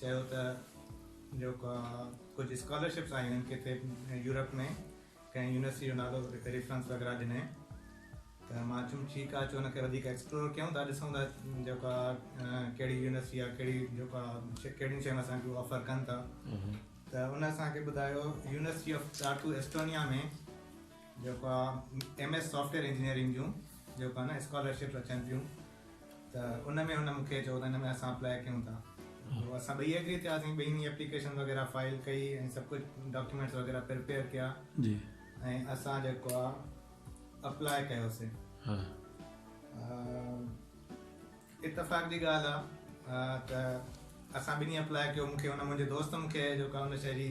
چيو ته جو ڪجهه اسڪالرشپس آيون ڪٿي يورپ ۾ ڪنهن يونيورسٽي جو نالو ڪٿي ريفرنس وغيره ڏني ته مان چيم ٺيڪ آهي اچو ان کي وڌيڪ ايڪسپلور ڪيون ٿا ڏسون ٿا جو ڪهڙي يونيورسٽي يا ڪهڙي جو ڪهڙيون شيون اسان کي آفر ڪن ٿا ته ان اسان کي ٻڌايو يونيورسٽي آف ٽارٽو ايسٽونيا ۾ جو ايم ايس سافٽويئر انجنيئرنگ جون جو اسڪالرشپس اچن پيون ته ان ۾ هن مون کي چيو ته ان ۾ اسان اپلائي ڪيون ٿا پوء اسان ٻئي ايگري ٿياسين ٻنهي ايپليڪيشن وغيره فائل ڪئي ۽ سڀ ڪجهه ڊاڪيومينٽس وغيره پريپيئر ڪيا ۽ اسان جيڪو آ اپلائي ڪيوسين اتفاق جي ڳالهه آ ته اسان ٻنهي اپلائي ڪيو مون کي ان منهنجي دوست مون کي جيڪو آ ان شي جي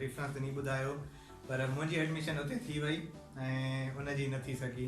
ريفرنس ڏني ٻڌايو پر منهنجي ايڊميشن اتي ٿي وئي ۽ ان جي نه ٿي سگهي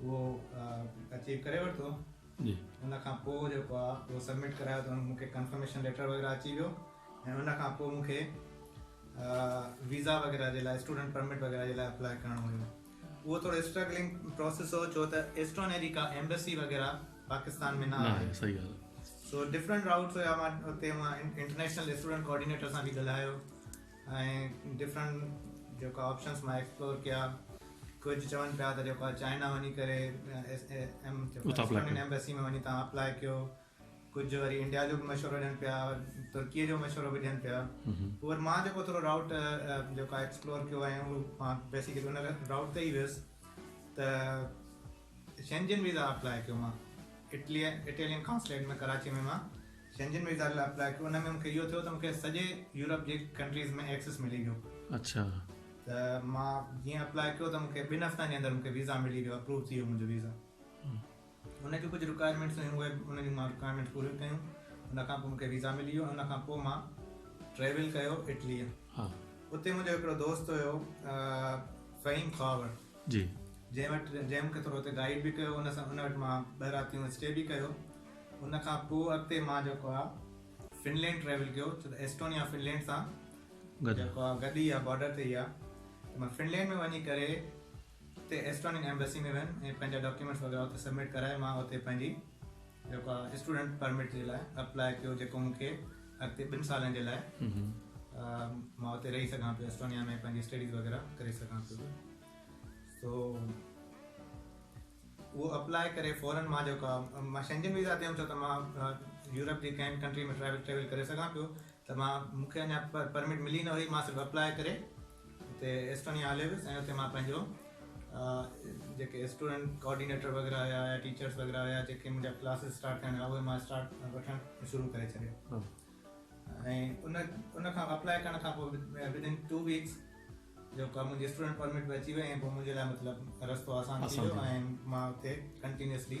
اهو اچيو ڪري ورتو ان کان پوء جيڪو آهي اهو سبمٽ ڪرايو ته مون کي ڪنفرميشن ليٽر وغيره اچي ويو ۽ ان کان پوء مون کي ويزا وغيره جي لاء اسٽوڊنٽ پرمٽ وغيره جي لاء اپلائي ڪرڻو هيو اهو ٿورو اسٽرگلنگ پروسيس هو ڇو ته ايسٽونيا جي ڪا ايمبسي وغيره پاڪستان ۾ نه آهي صحيح ڳالهه سو ڊفرنٽ راوٽس هيا مان اتي انٽرنيشنل اسٽوڊنٽ ڪوآرڊينيٽر سان به ڳالهايو ۽ ڊفرنٽ جيڪا آپشنس مان ايڪسپلور ڪيا ڪجهه چون پيا ته جيڪو آهي چائنا وڃي ڪري ايمبيسي ۾ وڃي تان اپلاء ڪيو ڪجهه وري انڊيا جو به مشورو ڏين پيا ترڪي جو مشورو به ڏين پيا پوء وري مان جيڪو ٿورو راوٽ جيڪو آهي ايڪسپلور ڪيو ۽ مان بيسڪلي ان راوٽ تي ئي ويس ته شينجن ويزا اپلاء ڪيو مان اٽليء Italian Consulate ۾ ڪراچيء ۾ مان شينجن ويزا لاء اپلاء ڪيو ان ۾ مونکي اهو ٿيو ته مونکي سڄي يورپ جي ڪنٽريز ۾ ايڪسس ملي ويو اڇا ته مان جيئن اپلاء ڪيو ته مونکي ٻن هفتن جي اندر مونکي ويزا ملي ويو اپروو ٿي ويو منهنجو ويزا ان جون ڪجهه رڪوائرمينٽس هيون اهي ان جون مان رڪوائرمينٽس پوريون ڪيون ان کان پوء مونکي ويزا ملي ويو ان کان پوء مان ٽريول ڪيو اٽليء اتي منهنجو هڪڙو دوست هيو فهيم خواور جي. جنهن وٽ جنهن مونکي ٿورو هتي گائيڊ به ڪيو ان سان ان وٽ مان ٻه راتيون اسٽي به ڪيو ان کان پوء اڳتي مان جيڪو آ فنلينڊ ٽريول ڪيو ڇو ته ايسٽونيا فنلينڊ سان گڏ جيڪو آ گڏ ئي آ بارڊر تي ئي آ ته مان فنلينڊ ۾ وڃي ڪري اتي ايسٽونين ايمبسي ۾ ويم ۽ پنهنجا ڊاڪيومينٽس وغيره اتي سبمٽ ڪرائي مان اتي پنهنجي جيڪو آء اسٽوڊنٽ پرمٽ جي لاء اپلاء ڪيو جيڪو مون کي اڳتي ٻن سالن جي لاء مان اتي رهي سگهان پيو اسٽونيا ۾ پنهنجي اسٽڊيز وغيره ڪري سگهان پيو سو اهو اپلاء ڪري فورن مان جيڪو آء مان شينجن ويزا تي هيم ڇو ته مان يورپ جي ڪنهن به ڪنٽري ۾ ٽريول ٽريول ڪري سگهان پيو ته مان مون کي اڃا پرمٽ ملي نه هئي مان صرف اپلاء ڪري اتي ايسٽونيا هلي ويس ۽ اتي مان پنهنجو جيڪي اسٽوڊنٽ ڪوآرڊينيٽر وغيره هيا يا ٽيچرس وغيره هيا جيڪي منهنجا ڪلاسز اسٽارٽ ٿيا هيا اهي مان اسٽارٽ وٺڻ شروع ڪري ڇڏيو ۽ ان ان کان اپلاء ڪرڻ کان پوء ودن ٽو ويڪس جيڪا منهنجي اسٽوڊنٽ پرمٽ به اچي وئي ۽ پوء منهنجي لاء مطلب رستو آسان ٿي ويو ۽ مان اتي ڪنٽينيوسلي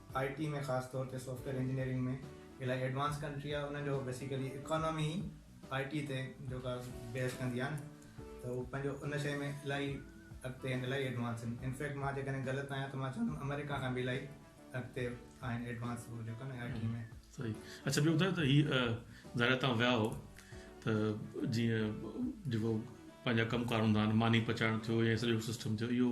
آء ٽي ۾ خاص طور تي سافٽويئر انجنيئرنگ ۾ الاهي ايڊوانس ڪنٽري آهي ان جو بيسيڪلي اڪانومي ئي آء ٽي تي جيڪا بيس ڪندي آهي نه ته هو پنهنجو ان شيء ۾ الاهي اڳتي آهن الاهي ايڊوانس آهن انفيڪٽ مان جيڪڏهن غلط آهيان ته مان چوندم آمريڪا کان به الاهي اڳتي آهن ايڊوانس هو جيڪو نه آء ٽي ۾ صحيح اچھا ٻيو ٻڌايو ته هي ظاهر تان ويا هو ته جيئن جيڪو پنهنجا ڪم ڪار هوندا آهن ماني پچائڻ ٿيو يا سڄو سسٽم ٿيو اهو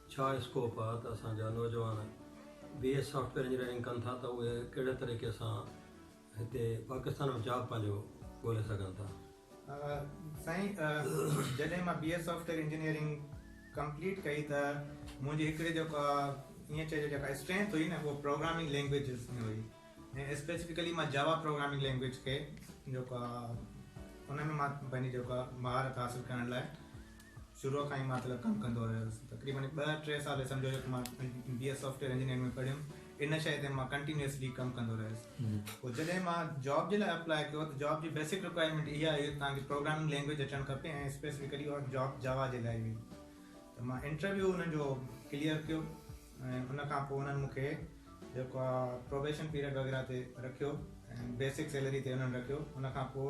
ڇا اسڪوپ آ ته اسان جا نوجوان B S software engineering ڪن ٿا ته اهي ڪهڙي طريقي سان هتي پاڪستان ۾ جاب پنهنجو ڳولي سگهن ٿا؟ سائين جڏهن مان B S software engineering complete ڪئي ته منهنجي هڪڙي جيڪا ائين چئجي جيڪا اسٽرينٿ هئي نه اها پروگرامنگ لينگويجز ۾ هئي ۽ اسپيسفڪلي مان جاوا پروگرامنگ لينگويج کي جيڪا ان ۾ مان پنهنجي جيڪا مهارت حاصل ڪرڻ لاء شروع کان ئي مان طلب ڪم ڪندو رهيو هيس. تقريبن ٻه ٽي سال هي سمجهو جو ته مان بي ايس سافٽويئر انجنيئرنگ ۾ پڙهيم. ان شيء تي مان ڪنٽينيوسلي ڪم ڪندو رهيس. پوء جڏهن مان جاب جي لاء اپلائي ڪيو ته جاب جي بيسڪ رڪوائرمينٽ اها هئي ته توهان کي پروگرامنگ لينگويج اچڻ کپي ۽ اسپيسفڪلي اها جاب جاوا جي لاء هئي. ته مان انٽرويو انهن جو ڪليئر ڪيو ۽ ان کان پوء انهن مون کي جيڪو آهي پروبيشن پيريڊ وغيره تي رکيو ۽ بيسڪ سيلري تي انهن رکيو. ان کان پوء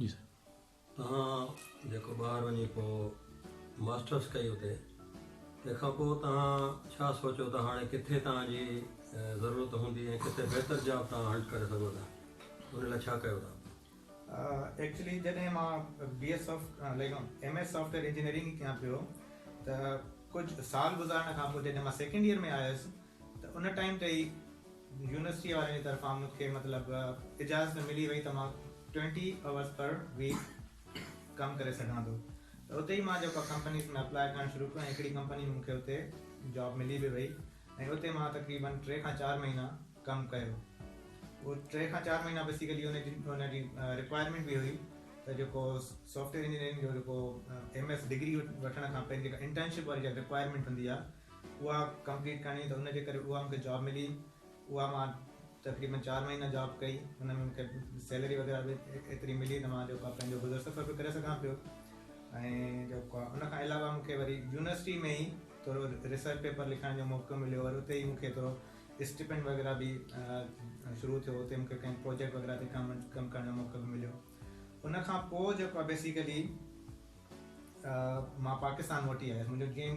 جي سائين توهان جيڪو ٻاهر وڃي پوء ماسٽرس ڪئي اتي تنهن کان پوء توهان ڇا سوچيو ته هاڻي ڪٿي توهان جي ضرورت هوندي ۽ ڪٿي بهتر جاب توهان هنٽ ڪري سگهو ٿا ان لاء ڇا ڪيو توهان؟ ايڪچلي جڏهن مان بي ايس سافٽ ليڪ ايم ايس سافٽويئر انجنيئرنگ ڪيان پيو ته ڪجهه سال گذارڻ کان پوء جڏهن مان سيڪنڊ ييئر ۾ آيس ته ان ٽائيم تي ئي يونيورسٽي وارن جي طرفان مون کي مطلب اجازت ملي وئي ته مان ٽوئنٽي اورس پر ويڪ ڪم ڪري سگهان ٿو ته اتي ئي مان جيڪو ڪمپنيز ۾ اپلائي ڪرڻ شروع ڪيو ۽ هڪڙي ڪمپني ۾ مون کي اتي جاب ملي به وئي ۽ اتي مان تقريبن ٽي کان چار مهينا ڪم ڪيو اهو ٽي کان چار مهينا بيسيڪلي ان جي ان جي رڪوائرمينٽ به هئي ته جيڪو سافٽويئر انجنيئرنگ جو جيڪو ايم ايس ڊگري وٺڻ کان پهرين جيڪا انٽرنشپ واري جيڪا رڪوائرمينٽ هوندي آهي اها ڪمپليٽ ڪرڻي هئي ته ان جي ڪري اها مونکي جاب ملي اها مان تقريبن چار مهينا جاب ڪئي ان ۾ مونکي سيلري وغيره به ايتري ملي ته مان جيڪو پنهنجو گذر سفر به ڪري سگهان پيو ۽ جيڪو ان کان علاوه مونکي وري يونيورسٽي ۾ ئي ٿورو ريسرچ پيپر لکڻ جو موقعو مليو وري اتي ئي مونکي ٿورو اسٽيپنڊ وغيره به شروع ٿيو اتي مونکي ڪنهن پروجيڪٽ وغيره تي ڪم ڪم ڪرڻ جو موقعو به مليو ان کان پوء جيڪو آهي بيسيڪلي مان پاڪستان موٽي آيس منهنجو جيئن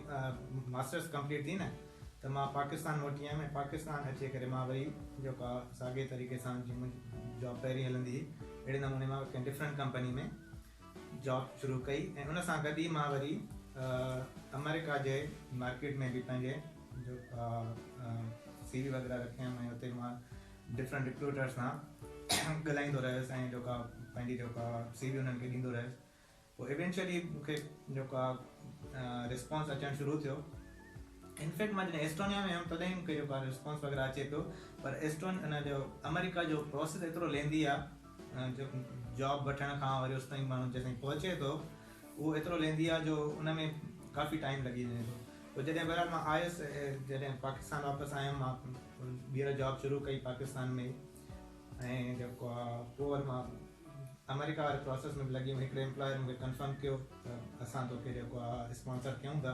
ماسٽرس ڪمپليٽ ٿي نه ته مان پاڪستان موٽي آيم ۽ پاڪستان اچي ڪري مان وري جيڪو آهي ساڳي طريقي سان جيئن منهنجي جاب پهرين هلندي هئي اهڙي نموني مان ڪنهن ڊفرنٽ ڪمپني ۾ جاب شروع ڪئي ۽ ان سان گڏ ئي مان وري آمريڪا جي مارڪيٽ ۾ به پنهنجي سي وي وغيره رکيم ۽ اتي مان ڊفرنٽ رڪروٽرس سان ڳالهائيندو رهيس ۽ جيڪا پنهنجي جيڪا سي وي انهن کي ڏيندو رهيس پوء ايونچوئلي مون کي جيڪا رسپانس اچڻ شروع ٿيو انفيڪٽ مان جڏهن ايسٽونيا ۾ هيم تڏهن مون کي جيڪا رسپانس وغيره اچي پيو پر ايسٽون ان جو آمريڪا جو پروسيس ايترو ليندي آهي جاب وٺڻ کان وري اوستائين ماڻهو جيستائين پهچي ٿو اهو ايترو ليندي آهي جو ان ۾ ڪافي ٽائيم لڳي وڃي ٿو پوء جڏهن بهرحال مان آيس جڏهن پاڪستان واپس آيم مان ٻيهر جاب شروع ڪئي پاڪستان ۾ ۽ جيڪو آهي پوء وري مان آمريڪا واري پروسيس ۾ به لڳي ويم هڪڙي امپلائر مون کي ڪنفرم ڪيو ته اسان توکي جيڪو آهي اسپانسر ڪيون ٿا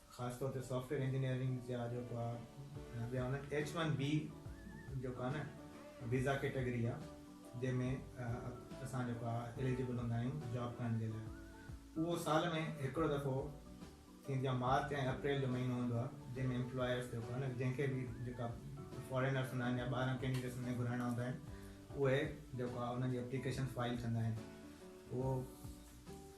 خاص طور تي سافٽ ويئر انجنيئرنگ جا جيڪا ٻيا هوندا آهن ايڇ ون بي جيڪا آهي نه ويزا ڪيٽيگري آهي جنهن ۾ اسان جيڪا اليجبل هوندا آهيون جاب ڪرڻ جي لاء اهو سال ۾ هڪڙو دفعو ٿيندي آهي مارچ ۽ اپريل جو مهينو هوندو آهي جنهن ۾ امپلائرس جيڪو آهي نه جنهن کي به جيڪا فارينرس هوندا آهن يا ٻاهران ڪينڊيڊيٽس هوندا آهن گهرائڻا هوندا آهن اهي جيڪو آهي انهن جي اپليڪيشن فائل ڪندا آهن اهو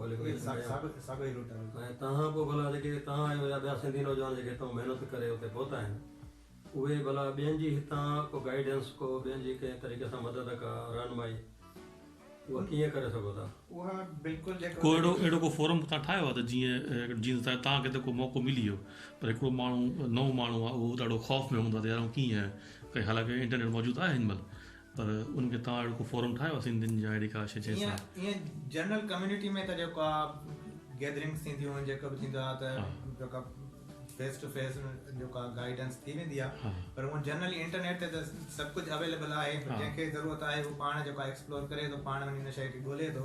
۽ تنهان پوء ڀلا جيڪي توهان آهيو يا ٻيا سنڌي نوجوان جيڪي اتان محنت ڪري اتي پهتا آهن اهي ڀلا ٻين جي هتان ڪو گائيڊنس ڪو ٻين جي ڪنهن طريقي سان مدد ڪا رهنمائي اها ڪيئن ڪري سگهو ٿا؟ اها بلڪل جيڪو ڪو اهڙو اهڙو ڪو فورم اتان ٺاهيو آهي ته جيئن جيئن ته توهان کي ته ڪو موقعو ملي ويو پر هڪڙو ماڻهو نئون ماڻهو آهي اهو ڏاڍو خوف ۾ هوندو آهي ته يار آئون ڪيئن ڪري حالانڪه انٽرنيٽ موجود آهي هن مهل پر ان کي توهان اهڙو ڪو فورم ٺاهيو آهي سنڌين جا اهڙي ڪا شيء جنهن سان. ائين ائين جنرل ڪميونٽي ۾ ته جيڪو آهي گيدرنگس ٿينديون آهن جيڪو به ٿيندو آهي ته جيڪا فيس ٽو فيس جيڪو آهي گائيڊنس ٿي ويندي آهي پر هونئن جنرلي انٽرنيٽ تي ته سڀ ڪجهه اويليبل آهي پر جنهن کي ضرورت آهي هو پاڻ جيڪو آهي ايڪسپلور ڪري ٿو پاڻ وڃي ان شيء کي ڳولي ٿو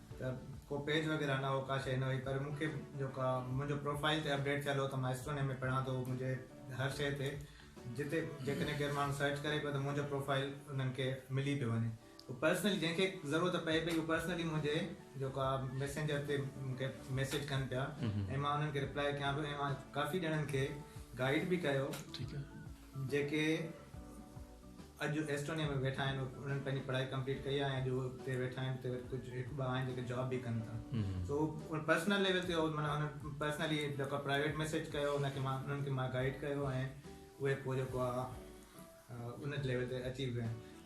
ته ڪو پيج وغيره نه هو ڪا شيء نه هئي پر مون کي جو ڪا منهنجو پروفائيل تي اپڊيٽ ٿيل هو ته مان اسٽوني ۾ پڙهان ٿو منهنجي هر شيء تي جتي جيڪڏهن ڪير ماڻهو سرچ ڪري پيو ته منهنجو پروفائيل انهن کي ملي پيو وڃي هو پرسنلي جنهن کي ضرورت پئي پئي هو پرسنلي منهنجي جو ڪا ميسينجر تي مون کي ميسيج ڪن پيا ۽ مان انهن کي رپلائي ڪيان پيو ۽ مان ڪافي ڄڻن کي گائيڊ به ڪيو جيڪي اڄ ايسٽونيا ۾ ويٺا آهن انهن پنهنجي پڙهائي ڪمپليٽ ڪئي آهي ۽ جو اتي ويٺا آهن اتي ڪجهه هڪ ٻه آهن جيڪي جاب به ڪن ٿا سو پرسنل ليول تي مانا هن پرسنلي جيڪو پرائيويٽ مسج ڪيو هن کي مان انهن کي مان گائيڊ ڪيو ۽ اهي پوء جيڪو آهي ان ليول تي اچي ويا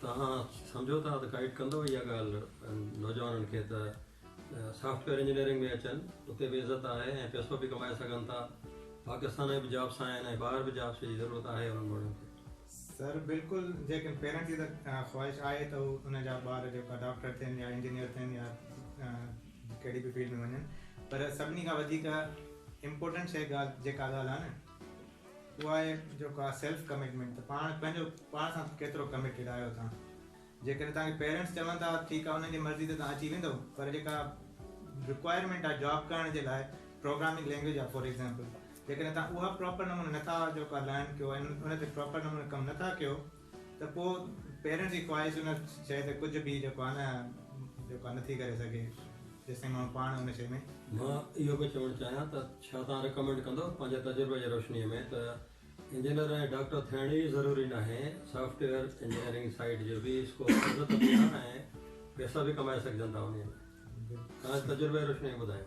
توهان سمجهو ٿا ته گائيڊ ڪندو اها ڳالهه نوجوانن کي ته سافٽ ويئر انجنيئرنگ ۾ اچن، اتي به عزت آهي ۽ پيسو به ڪمائي سگهن ٿا، پاڪستان ۾ به جابس آهن ۽ ٻاهر به جابس جي ضرورت آهي انهن ماڻهن کي. سر بلڪل جيڪن پيرنٽس جي ته خواهش آهي ته هو انهن جا ٻار جيڪا ڊاڪٽر ٿين يا انجنيئر ٿين يا ڪهڙي به فيلڊ ۾ وڃن پر سڀني کان وڌيڪ امپورٽنٽ شي ڳالهه جيڪا ڳالهه آهي نه اهو آهي جيڪو آهي سيلف ڪمٽمينٽ ته پاڻ پنهنجو پاڻ سان ڪيترو ڪمٽيڊ آهيو توهان جيڪڏهن توهان کي پيرنٽس چون ٿا ٺيڪ آهي انهن جي مرضي تي توهان اچي ويندو پر جيڪا رڪوائرمينٽ آهي جاب ڪرڻ جي لاء پروگرامنگ لينگويج آهي فار ايگزامپل جيڪڏهن توهان اها پراپر نموني نٿا جيڪو آهي لرن ڪيو ان تي پراپر نموني ڪم نٿا ڪيو ته پوء پيرن جي خواهش ان شيء تي ڪجهه به جيڪو آهي نه جيڪو آهي نٿي ڪري سگهي جيستائين ماڻهو پاڻ ان شيء ۾ مان اهو پيو چوڻ چاهيان ته ڇا توهان ريڪمينڊ ڪندو پنهنجي تجربي جي روشني ۾ ته انجنيئر ۽ ڊاڪٽر ٿيڻ ئي ضروري ناهي سافٽ ويئر انجنيئرنگ سائيڊ جو به اسڪوپ وڌو ته ٻيا ۽ پيسا به ڪمائي سگهجن ٿا انهي ۾ توهان جي تجربي جي روشني ۾ ٻڌايو.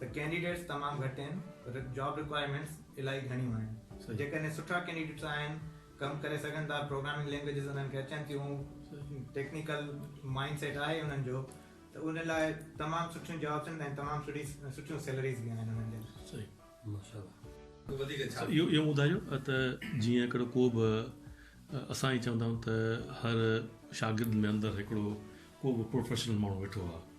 ته ڪينڊيڊيٽس تمام گهٽ آهن پر جاب رڪوائرمينٽس الاهي گهڻيون آهن ته جيڪڏهن سٺا ڪينڊيڊيٽس آهن ڪم ڪري سگهن ٿا پروگرامنگ لينگويجز انهن کي اچن ٿيون ٽيڪنيڪل مائنڊ سيٽ آهي انهن جو ته ان لاء تمام سٺيون جابس آهن ۽ تمام سٺي سٺيون سيلريز به آهن انهن جي لاء اهو اهو ٻڌايو ته جيئن هڪڙو ڪو به اسان ائين چوندا آهيون ته هر شاگرد ۾ اندر هڪڙو ڪو به پروفيشنل ماڻهو ويٺو آهي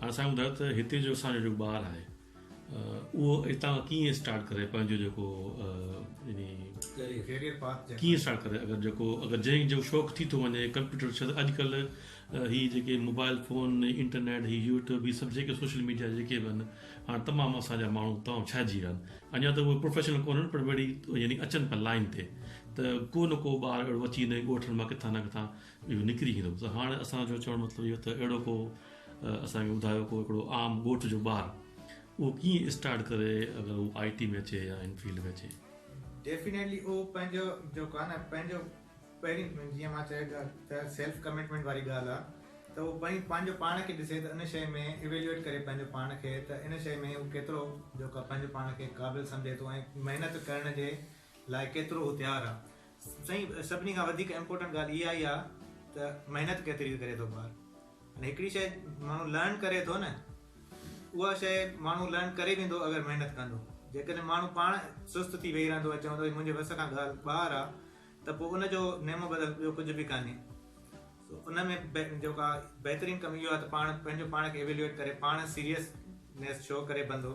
هاڻ اسان ٻڌايو ته هتي جو اسان جو جيڪو ٻار آهي اهو هتان ڪيئن اسٽارٽ ڪري پنهنجو جيڪو يعني ڪيريئر پاٿ ڪيئن اسٽارٽ ڪري اگر جيڪو اگر جنهن جو شوق ٿي ٿو وڃي ڪمپيوٽر ڇا ته اڄڪلهه هي جيڪي موبائل فون انٽرنيٽ هي يوٽيوب هي سڀ جيڪي سوشل ميڊيا جيڪي به آهن هاڻ تمام اسان جا ماڻهو تمام ڇائجي ويا آهن اڃا ته اهي پروفيشنل ڪونهن پر وڙي يعني اچن پيا لائين تي ته ڪو نه ڪو ٻار اهڙو اچي وڃي ڳوٺن مان ڪٿان نه ڪٿان اهو نڪري ايندو ته هاڻ اسان جو چوڻ مطلب اهو ته اهڙو ڪو اسان کي ٻڌايو ڪو هڪڙو عام ڳوٺ جو ٻار اهو ڪيئن اسٽارٽ ڪري اگر هو آئي ٽي ۾ اچي يا ان فيلڊ ۾ اچي. ڊيفينيٽلي اهو پنهنجو جيڪو آهي نه پنهنجو پهرين جيئن مان چيو ته سيلف ڪمٽمينٽ واري ڳالهه آهي ته اهو پهرين پنهنجو پاڻ کي ڏسي ته ان شيء ۾ ايويليوئيٽ ڪري پنهنجو پاڻ کي ته ان شيء ۾ هو ڪيترو جيڪو آهي پنهنجو پاڻ کي قابل سمجهي ٿو ۽ محنت ڪرڻ جي لاء ڪيترو هو تيار آهي سائين سڀني کان وڌيڪ امپورٽنٽ ڳالهه اها ئي آ ته محنت ڪيتري ڪري ٿو ٻار ان هڪڙي شئي ماڻهو لرن ڪري ٿو نه اها شئي ماڻهو لرن ڪري ويندو اگر محنت ڪندو جيڪڏهن ماڻهو پاڻ سست ٿي ويهي رهندو ۽ چوندو منهنجي وس کان ڳالهه ٻاهر آ ته پوء ان جو نعمو بدل ٻيو ڪجهه به ڪانهي ان ۾ جيڪا بهترين ڪم اهو آ ته پاڻ پنهنجو پاڻ کي ايويلوئيٽ ڪري پاڻ سيريس نيس شو ڪري بندو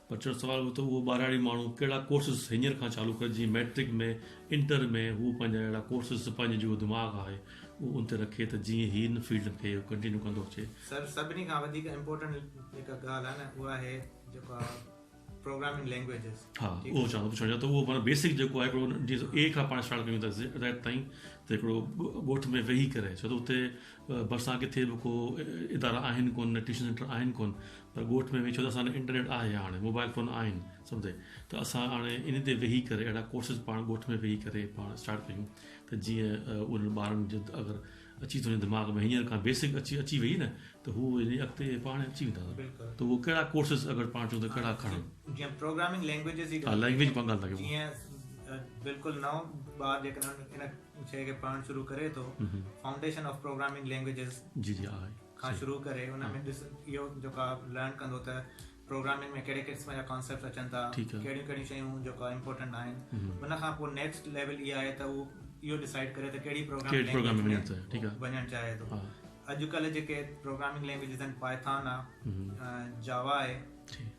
پڇڻ سوال هو ته اهو ٻاراڙي ماڻهو ڪهڙا ڪورسز هينئر کان چالو ڪري جيئن مئٽرڪ ۾ انٽر ۾ هو پنهنجا اهڙا ڪورسز پنهنجي جيڪو دماغ آهي اهو ان تي رکي ته جيئن هي ان فيلڊ کي ڪنٽينيو ڪندو اچي. سر سڀني کان وڌيڪ امپورٽنٽ جيڪا ڳالهه آهي نه اها آهي جيڪا پروگرامنگ لينگويجز ها اهو چاهيان ٿو پڇڻ چاهيان ٿو اهو بيسڪ جيڪو آهي هڪڙو جيئن اي کان پاڻ اسٽارٽ ڪيون ٿا زيڊ تائين ته هڪڙو ڳوٺ ۾ ويهي ڪري ڇو ته اتي ڀرسان ڪٿي به ڪو ادارا آهن ڪون ٽيوشن سينٽر آهن ڪون پر ڳوٺ ۾ ويهي ڇو ته اسان وٽ انٽرنيٽ آهي هاڻي موبائل فون آهن سڀ تي ته اسان هاڻي انهي تي ويهي ڪري اهڙا ڪورسز پاڻ ڳوٺ ۾ ويهي ڪري پاڻ اسٽارٽ ڪيون ته جيئن انهن ٻارن جو اگر اچي ٿو وڃي دماغ ۾ هينئر کان بيسڪ اچي اچي ويئي نه ته هو يعني اڳتي پاڻ اچي ويندا ته اهو ڪهڙا ڪورسز اگر پاڻ چون ته ڪهڙا کڻن جيئن پروگرامنگ لينگويجز جي ڳالهه لينگويج پنگ ڳالهه ٿا ڪيون جيئن بلڪل نئون ٻار جيڪڏهن ان شيء کي پڙهڻ شروع ڪري ٿو فائونڊيشن آف پروگرامنگ لينگويجز جي جي آهي کان شروع ڪري ان ۾ ڏس اهو جيڪو آ لرن ڪندو ته پروگرامنگ ۾ ڪهڙي قسم جا ڪانسيپٽس اچن ٿا ڪهڙيون ڪهڙيون شيون جيڪو آ امپورٽنٽ آهن ان کان پوء نيڪسٽ ليول اها آهي ته اهو اهو ڊسائڊ ڪري ته ڪهڙي پروگرامنگ لينگويج ۾ وڃڻ چاهي ٿو اڄڪلهه جيڪي پروگرامنگ لينگويجز آهن پائٿان آ جاوا آهي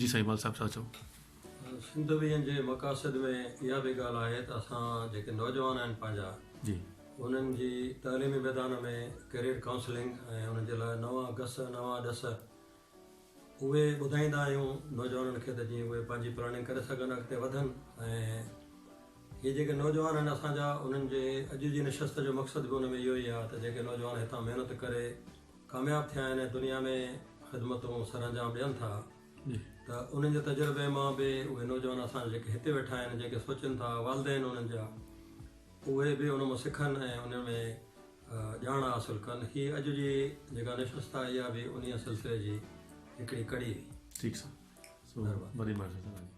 جي سائين مال صاحب سا چئو. سنڌ ويهن جي مقاصد ۾ اها به ڳالهه آهي ته اسان جيڪي نوجوان آهن پنهنجا انهن جي تعليمي ميدان ۾ ڪيريئر ڪائونسلنگ ۽ انهن جي لاء نوان گس نوان ڏس اهي ٻڌائيندا آهيون نوجوانن کي ته جيئن اهي پنهنجي پلاننگ ڪري سگهن اڳتي وڌن ۽ هي جيڪي نوجوان آهن اسان جا انهن جي اڄ جي نشست جو مقصد به ان ۾ اهو ئي آهي ته جيڪي نوجوان هتان محنت ڪري ڪامياب ٿيا آهن ۽ دنيا ۾ خدمتون سرانجام ڏين ٿا ته انهن جي تجربي مان به اهي نوجوان اسان جا جيڪي هتي ويٺا آهن جيڪي سوچين ٿا والدين انهن جا اهي به ان مان سکن ۽ ان ۾ ڄاڻ حاصل ڪن هي اڄ جي جيڪا نشست آهي اها به انهيء سلسلي جي هڪڙي ڪڙي هئي. ٺيڪ سر. سو وري مارشل سان ڳالهيون.